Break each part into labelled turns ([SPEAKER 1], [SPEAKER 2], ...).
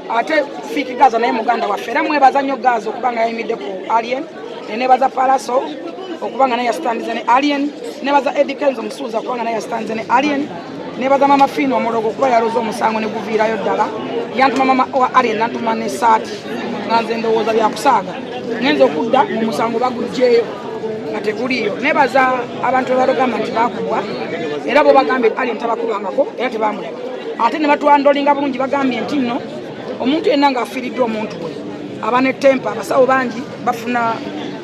[SPEAKER 1] ate fiki gazo naye muganda waffe era mwebaza nnyo gazo okuba nga yayimidde ku alien nenebaza palaso okuba nga naye yasitandize ne alien nebaza edikenzo omusuuza okuba nga naye yasitandize ne alien nebaza mama fiina omulogo okuba yaloza omusango ne guviirayo ddala yantuma mama wa alien nantuma ne saati nga nze ndowooza byakusaaga ngenza okudda mu musango bagugjeyo nga teguliiyo nebaza abantu abalogamma nti bakubwa era bo bagambye alien tabakubangako era tebamulaba ate ne batwandolinga bulungi bagambye nti nno omuntu yenna ng'afiiriddwa omuntu we aba ne tempa abasawo bangi bafuna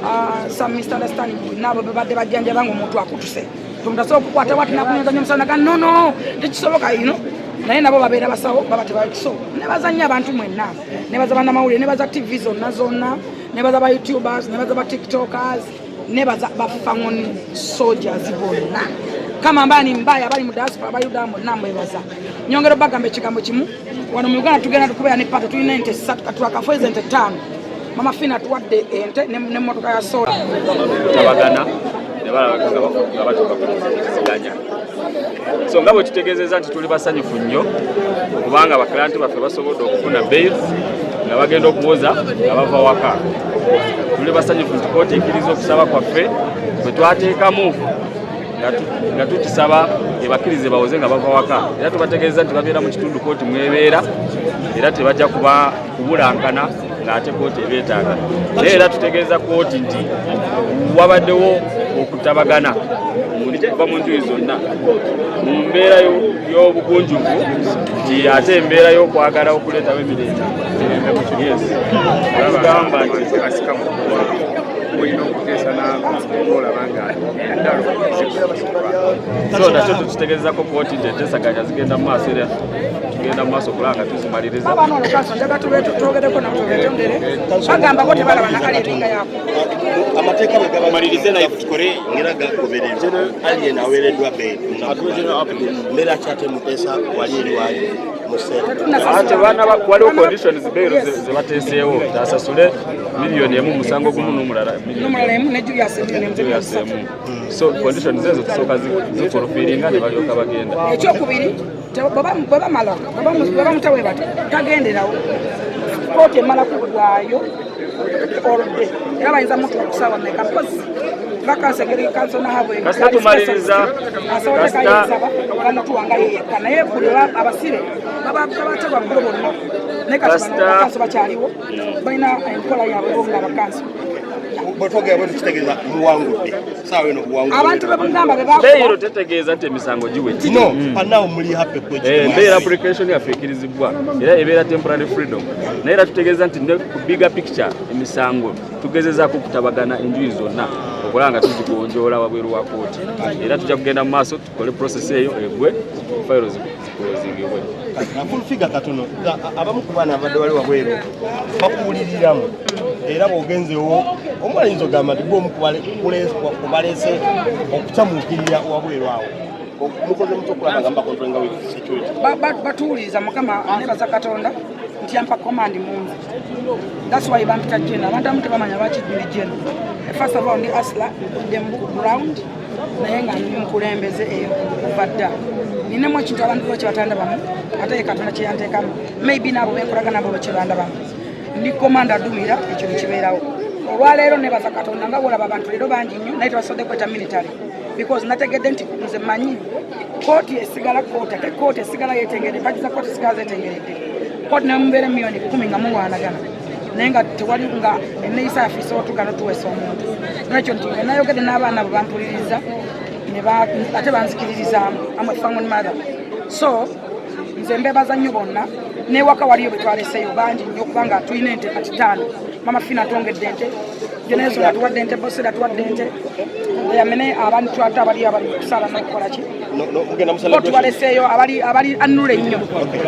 [SPEAKER 1] uh, some misunderstanding naabo bebadde bajjanjaba nga omuntu akutuse tomutasobola okukwata wati nakunyazanya omusawo naga nono tekisoboka ino naye nabo babeera basawo baba tebakiso nebazanya abantu mwenna nebaza banamawulire nebaza tv zonna zonna nebaza ba youtubers nebaza ba tiktokers nebaza bafangoni soldiers bonna kama ambaye ni mbaya abali mu diaspora abali Uganda bonna mwebaza nyongera bagamba ekigambo kimu wano mu Uganda tugenda tukubeera ne pato tulina ente ssatu katulakafu ezo ente ttaano mama fina tuwadde ente n'emmotoka ya sola tabagana
[SPEAKER 2] ne balabaganga batuka ku kiziganya so nga bwe tutegeezezza nti tuli basanyufu nnyo kubanga bakilanti baffe basobodde okufuna bail nga bagenda okuwoza nga bava waka tuli basanyufu nti kooti ekkiriza okusaba kwaffe bwe twateekamu nga tukisaba ebakkirize bawoze nga bava waka era tubategeeza nti babeera mu kitundu kooti mwebeera era tebajja kuba kubulankana ng'ate kooti ebyetaaga naye era tutegeeza kooti nti wabaddewo okutabagana okuva mu njuyi zonna mu mbeera y'obugunjuvu nti ate embeera y'okwagala okuleetawo emirembe tugamba nti so nakyo tukitegeezako kooti nti entesaganya zigenda mu maaso era tugenda mu maaso kulanga
[SPEAKER 3] waliwo
[SPEAKER 2] conditions beero zebateeseewo asasule miliyoni emu musango gumu nomulala so conditions ezo zisooka zifulufiringa nebalyoka bagenda ekyokubiri
[SPEAKER 1] bwebamala bwebamuta webati tagenderawo kooti emala kugwayo oludde era bayinza mutu okusaawa
[SPEAKER 2] meka
[SPEAKER 1] mpozi katumaliriza bakyaliwo balina enkola yabwe nga bakansi bwetwogera
[SPEAKER 3] bwetukitegeeza muwangudde abantu bebugamba
[SPEAKER 1] bebeyiro tetegeeza
[SPEAKER 2] nti emisango giwedde no mm. and now muli
[SPEAKER 3] happy kwe eh mbeera application
[SPEAKER 2] ya fekirizibwa era ebeera temporary freedom naye era tutegeeza nti ne ku bigger picture emisango tugezezaako okutabagana enjuyi zonna okulaba nga tuzigonjoola wabweru wa kooti era tujja kugenda mu maaso kole process eyo egwe fayiro zikozingibwe nafulfiga
[SPEAKER 3] katono abamu ku baana abadde wali wabweru bakuwuliriramu era bwogenzewo omu ayinza ogamba nti gwomu kubaleese okukyamuukirira wabweru awo batuwuliriza
[SPEAKER 1] mukama anebaza katonda nti ampa command mungi that's why bampita jena abantu abamu tebamanya lwaki juli jena first of all ndi asla ndi mu ground naye nga ndi mukulembeze eyo kuva dda ninamu ekintu abantu bo kyebatandabamu ate ye katonda kyeyanteekamu maybe naabo benkolaga nabo kyebandabamu ndi komanda adumira ekyo nekibeerawo olwaleero nebaza katonda nga wolaba abantu leero bangi nnyo naye tebasobodde kweta military because nategedde nti nze manyi kooti esigala kooti ate kooti esigala yetengeredde mpagi za kooti esigala zetengeredde kooti nemubeera emiyoni kumi nga muwaanagana naye nga tewali nga eneyisa yaffe isobola tugana tuweesa omuntu nekyo nti enayogedde n'abaana bwe bampuliriza ate banzikiririzaamu amwe family mother so nze mbebaza nnyo bonna newaka waliyo betwaleseyo bangi nnyo kubanga tulina ente kati taano mama fina atwongedde ente genezo natuwadde ente bosera atuwadde ente yamene abantu twate abaliyo abali kusala nokukolaki tubaleseyo abali anula ennyo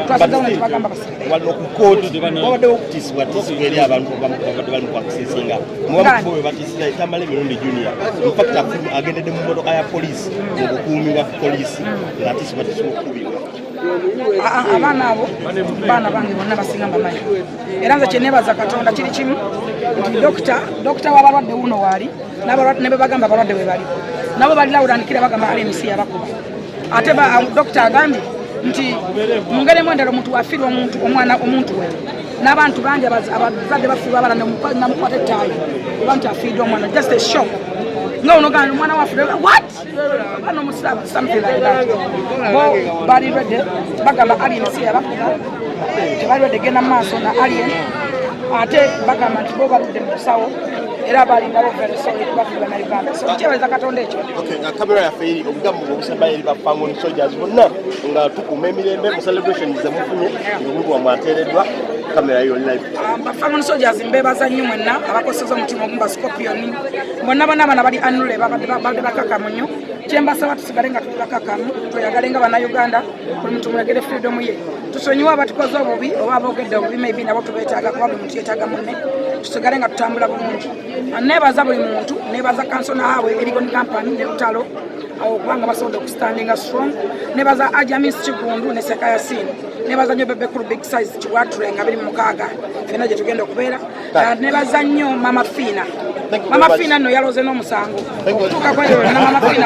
[SPEAKER 1] twasizawo netubagamba wano ku kooti
[SPEAKER 3] wabaddewo okutisibwatisibwa eri abantu babadde bali mukwakusinsinga mubamukubo bwe batisira ekyamala emirundi junior infact agendedde mu motoka ya poliisi mu bukuumi bwa poliisi ngaatisibwatisibwa okukubirwa
[SPEAKER 1] abaana abo baana bange bonna basinga mbamanyi era nze kyenebaza katonda kiri kimu nti dokita dokita wabalwadde wuno waali nabebagamba abalwadde webali nabo balilawudanikira bagamba rmc yabakuba ate um, dokita agambye nti mungeremu endala omuntu wafirwa omuntu omwana omuntu we n'abantu bangi abazadde bafirwa abala namukwata ettaayi oba nti afiidde omwana just a shock nga onogana omwana waffe what bano musiramu something like that bo bali rede bagamba alien si yabakuba tebali rede genda mu maaso na alien ate bagamba nti bo baludde mu kusawo era balindawo veresoli kubafi banauganda so kyebaza katonda ekyo nga kamera yaffe eri
[SPEAKER 3] obugambo bwobusembayo eri bafamon soldiers bonna nga tukuuma emirembe mu celebration zemufunye omuntu wamwe ateereddwa kamera yo live ah, bafamon soldiers
[SPEAKER 1] mbebaza nnyo mwenna abakoseza omutima ogumba scorpion bonna bonna abana bali anule babadde bakakamu nnyo kyembasaba tusigale nga tuli bakakamu tweyagale nga banauganda buli muntu mwegere freedom ye tusonyiwe abatukoze obubi oba abogedde obubi maybe nabo tubetaaga kuba kyetaga mune tusigale nga tutambula bulungi nebaza buli muntu nebaza kansona hawe erigon company ne lutalo awo kubanga basobodde okustandinga strong nebaza ajamis kigundu ne sekayasini nebaza nyo bebe kulu big size kiwatre nga biri mukaaga fena gyetugenda okubeera ah, nebaza nyo mama fina mama fina no yaloze n'omusango okutuuka kweyo na mama fina